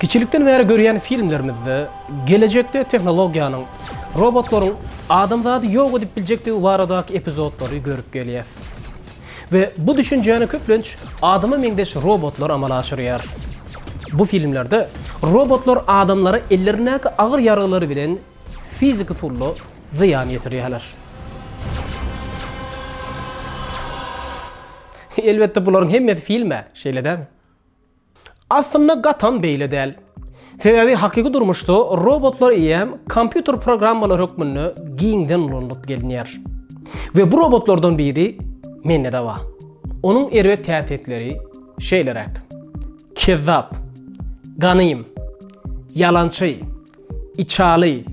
Kiçilikden bäri görýän filmlerimizde gelejekde tehnologiýanyň, robotlaryň adamzady ýok edip biljekdigi baradaky epizodlary görüp gelýäs. We bu düşünjäni köplenç adama meňzeş robotlar amala aşyrýar. Bu filmlerde robotlar adamlara ellerindäki agyr ýaragylary bilen Fizik usulda zyýan ýetirýärler. Elbetde bularyň hemmesi film-ä, şeýle dälmi? Aslynda gatam beýle däl. Sebäbi hakyky durmuşda robotlar eýýäm kompýuter programmalary hökmünde giňden ulanylyp gelinýär. We bu robotlardan biri mende-de bar. Onuň erbet häsiýetleri şeýleräk. Kezzap. Ganym. Ýalançy. Içaly,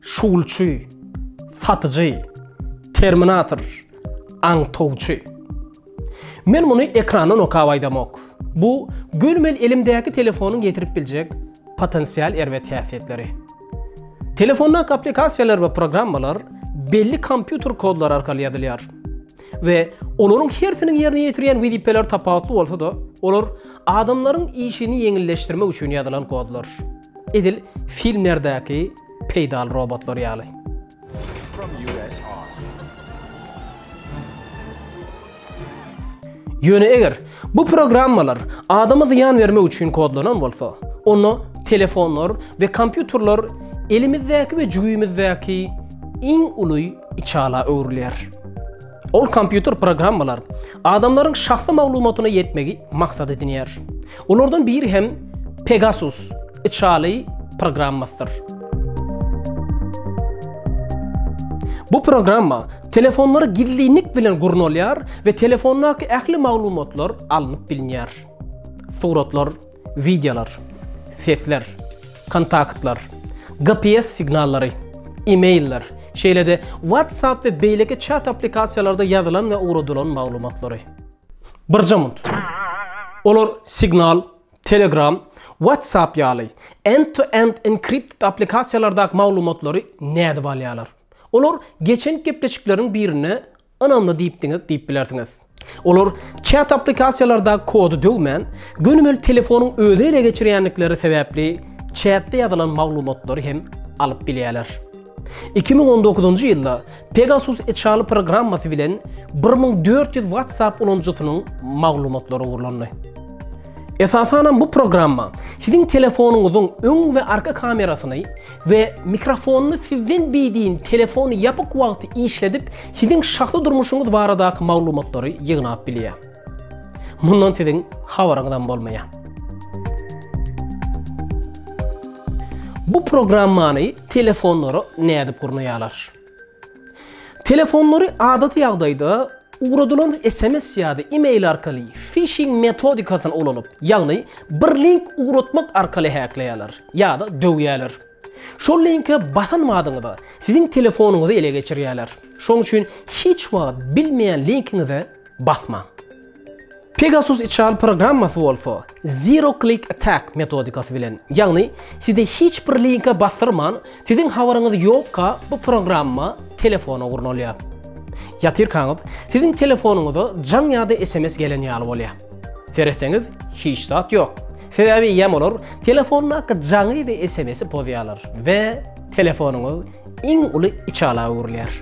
şugulçy, satyjy, terminator, aňtawçy. Men muny ekrandan okap aýdamok. Bu gönümel elimdäki telefonyň getirip biljek potensial erbet häsiýetleri. Telefondaky applikasiýalar we programmalar belli kompýuter kodlary arkaly ýazylýar. we olaryň hersiniň ýerine ýetirýän wezipeleri tapawutly bolsa-da, olar adamlaryň işini ýeňilleşdirmek üçin ýazylan kodlar. Edil filmlerdäki peýdaly robotlar ýaly. Ýöne eger Bu programmalar adama zyýan bermek üçin kodlanan bolsa, onda telefonlar we kompýuterler elimizdäki we jübimizdäki iň uly içala öwrülýär. Ol kompýuter programmalar adamlaryň şahsy maglumatyna ýetmegi maksat edinýär. Olardan biri hem Pegasus, Içali programmasydyr. Bu programma telefonlary gizlinlik bilen gurnalýar we telefondaky ähli maglumatlar alnyp bilinýär. Suratlar, wideolar, sesler, kontaktlar, GPS signallary, e-mailler, şeýle-de WhatsApp we beýleki çat applikasiýalarda ýazylan we ugradylan maglumatlary. Birjamynt. Olar signal, Telegram, WhatsApp ýaly end-to-end enkripted applikasiýalardaky maglumatlary nädip alýarlar? Olar geçen gepleşikleriň birine ynamly diýip diňe diýip bilersiňiz. Olar çat applikasiýalardaky kody döwmän, gönümel telefonyň özüni ele geçirýändikleri sebäpli çatda ýazylan maglumatlary hem alyp bilýärler. Iki müň on dokuzynjy ýylda Pegasus içaly programmasy bilen bir müň dört ýüz WhatsApp ulanyjysynyň maglumatlary ogurlandy. Esasanam bu programma siziň telefonyňyzyň öň we arka kamerasyny we mikrofonyny sizden beýdiň telefony ýapyk wagty işledip, siziň şahsy durmuşyňyz baradaky maglumatlary ýygnap bilýär. Mundan siziň habaryňyzam bolmaýar. Bu programmany telefonlara nädip gurnaýarlar? Telefonlary adaty ýagdaýda ugradylan SMS ýa-da e-mail arkaly phishing metodikasyny ulanyp, ýagny bir link ugratmak arkaly häkleýärler ýa-da döwýärler. Şol linke basanmadyňyzda, siziň telefonyňyzy ele geçirýärler. Şonuň üçin hiç wagt bilmeýän linkiňize basmaň. Pegasus içal programmasy bolsa Zero Click Attack metodikasy bilen, ýagny sizi hiç bir linke basdyrman, siziň habaryňyz ýokka bu programma telefona gurnalýar. Ýatyrkaňyz, siziň telefonyňyza jaň ýa-da sms gelen ýaly bolýar. Seretseňiz, hiç zat ýok. Sebäbi ýam olar telefondaky jaňy we SMS-i pozýarlar we telefonyňyz iň uly içala öwrülýär.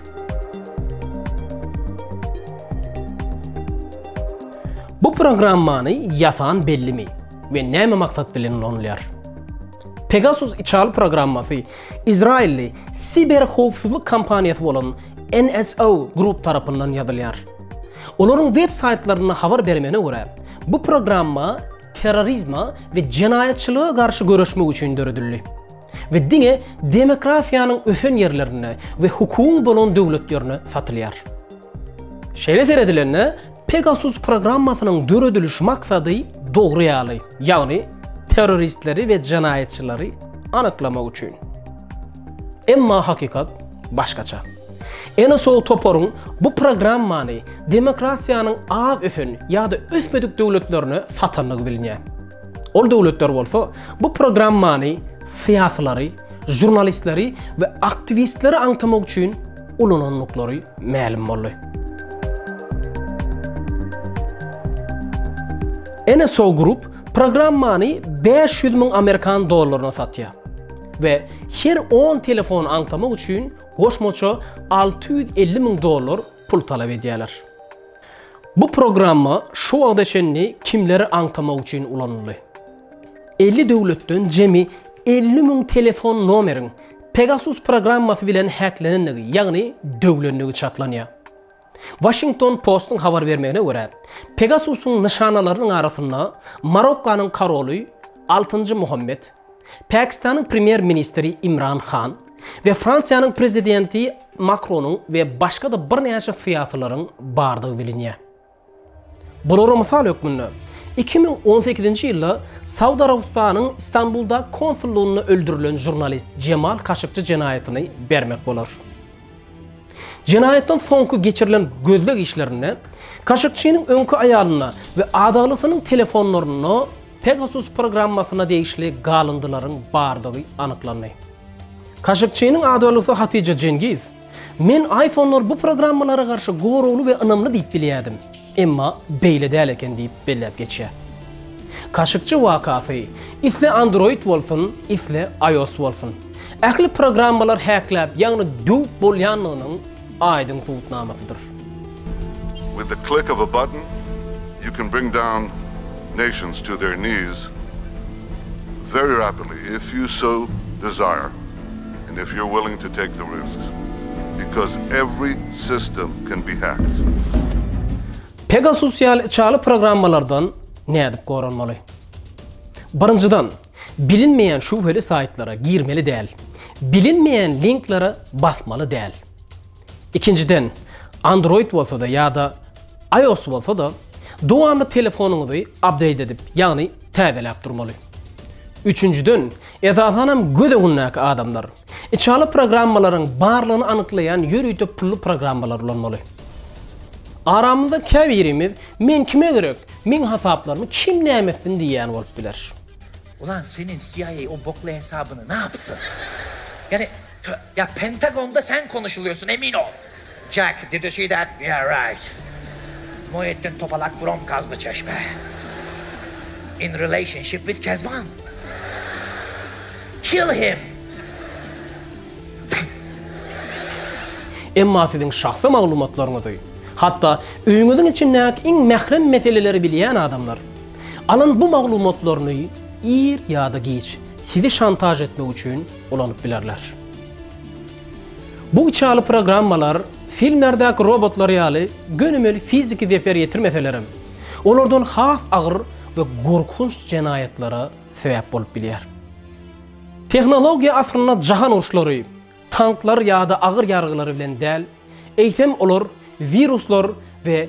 Bu programmany ýasan bellimi we näme maksat bilen ulanylýar? Pegasus içal programmasy izrailli siber howpsuzlyk kompaniýasy bolan NSO Group tarapyndan ýazylýar. Olaryň web saýtlarynda habar bermegine görä, bu programma terrorizme we jenaýatçylyga garşy göreşmek üçin döredildi we diňe demokratiýanyň ösen ýerlerinde we hukugyň bolan döwletlerde satylýar. Şeýle seredilende, Pegasus programmasynyň dörediliş maksady dogry ýaly, ýagny terroristleri we jenaýatçylary anyklamak üçin. Emma hakykat başgaça. Enosow toparyň bu programmany demokratiýanyň az ösen ýa-da ösmedik döwletlerine satandygy bilinýär. Ol döwletler bolsa bu programmany syýasylary, žurnalistleri we aktiwistleri aňtamak üçin ulanandyklary mälim boldy. Enosow Group programmany bäş ýüz müň amerikan dollaryna satýar we her on telefony aňtamak üçin goşmaça alty ýüz elli müň dollar pul talap edýärler. Bu programma şu wagta çenli kimleri aňtamak üçin ulanyldy? Elli döwletden jemi elli müň telefon nomeriň Pegasus programmasy bilen häklenendigi, ýagny döwlendigi çaklanýar. Washington Post-yň habar bermegine görä, Pegasusyň nyşanalarynyň arasynda Marokkanyň koroly altynjy Muhammed, Pakistanyň premýer-ministri Imran Han we Fransiýanyň prezidenti Makronyň we başga-da birnäçe syýasylaryň bardygy bilinýär. Bulara mysal hökmünde, iki müň on sekizinji ýylda Saud Arabystanyň Istanbuldaky konsullygynda öldürilen žurnalist Jemal Kaşykçy jenaýatyny bermek bolar. Jenaýatdan soňky geçirilen gözleg işlerinde Kaşykçynyň öňki aýalynda we adaglysynyň telefonlarynda Pegasus programmasyna degişli galyndylaryň bardygy anyklandy. Kaşykçynyň adaglysyHatija Jengiz, Men iPhone-lar bu programmalara garşy goragly we ynamly diýip bilýärdim, emma beýle däl eken diýip belläp geçýär. Kaşykçy wakasy, isle Android bolsun, isle iOS bolsun. Ähli programmalar häkläp, ýagny döwüp bolýanlygynyň aýdyň subutnamasydyr. With the click of a button you can bring down nations to their knees very rapidly if you so desire and if you're willing to take the risks because every system can be hacked. Pegasus ýaly içaly programmalardan nädip goranmaly? Birinjiden, bilinmeýän şübheli saýtlara girmeli däl. Bilinmeýän linklere basmaly däl. Ikinjiden, Android bolsa-da ýa-da iOS bolsa-da, dowamly telefonyňyzy update edip, ýagny täzeläp durmaly. Üçünjiden, esasanam göz öňündäki adamlar, içaly programmalaryň barlygyny anyklaýan ýörite pully programmalary ulanmaly. Aramyzda käbirimiz Men kime gerek, meň hasaplarymy kim näme etsin diýýän bolup biler. Ulan seniň CIA o bokly hesabyny napsyn? Ýagny Ýa Pentagonda sen konuşulýarsyň emin ol. Jack, did you see that? Yeah right. Muhitdin Topalak from Gazly Çeşme. In relationship with Kezban. Kill him. Emma siziň şahsy maglumatlaryňyzy, hatda öýüňiziň içindäki iň mährem meseleleri bilýän adamlar, alan bu maglumatlaryny ir ýa-da giç sizi şantaž etmek üçin, ulanyp bilerler. Bu içaly programmalar filmlerdäki robotlar ýaly gönümel fiziki zeper ýetirmeselerem, olardan has agyr we gorkunç jenaýatlara sebäp bolup bilýär. Tehnologiýa asrynda jahan uruşlary tanklar ýa-da agyr ýaragylary bilen däl, eýsem olar wiruslar we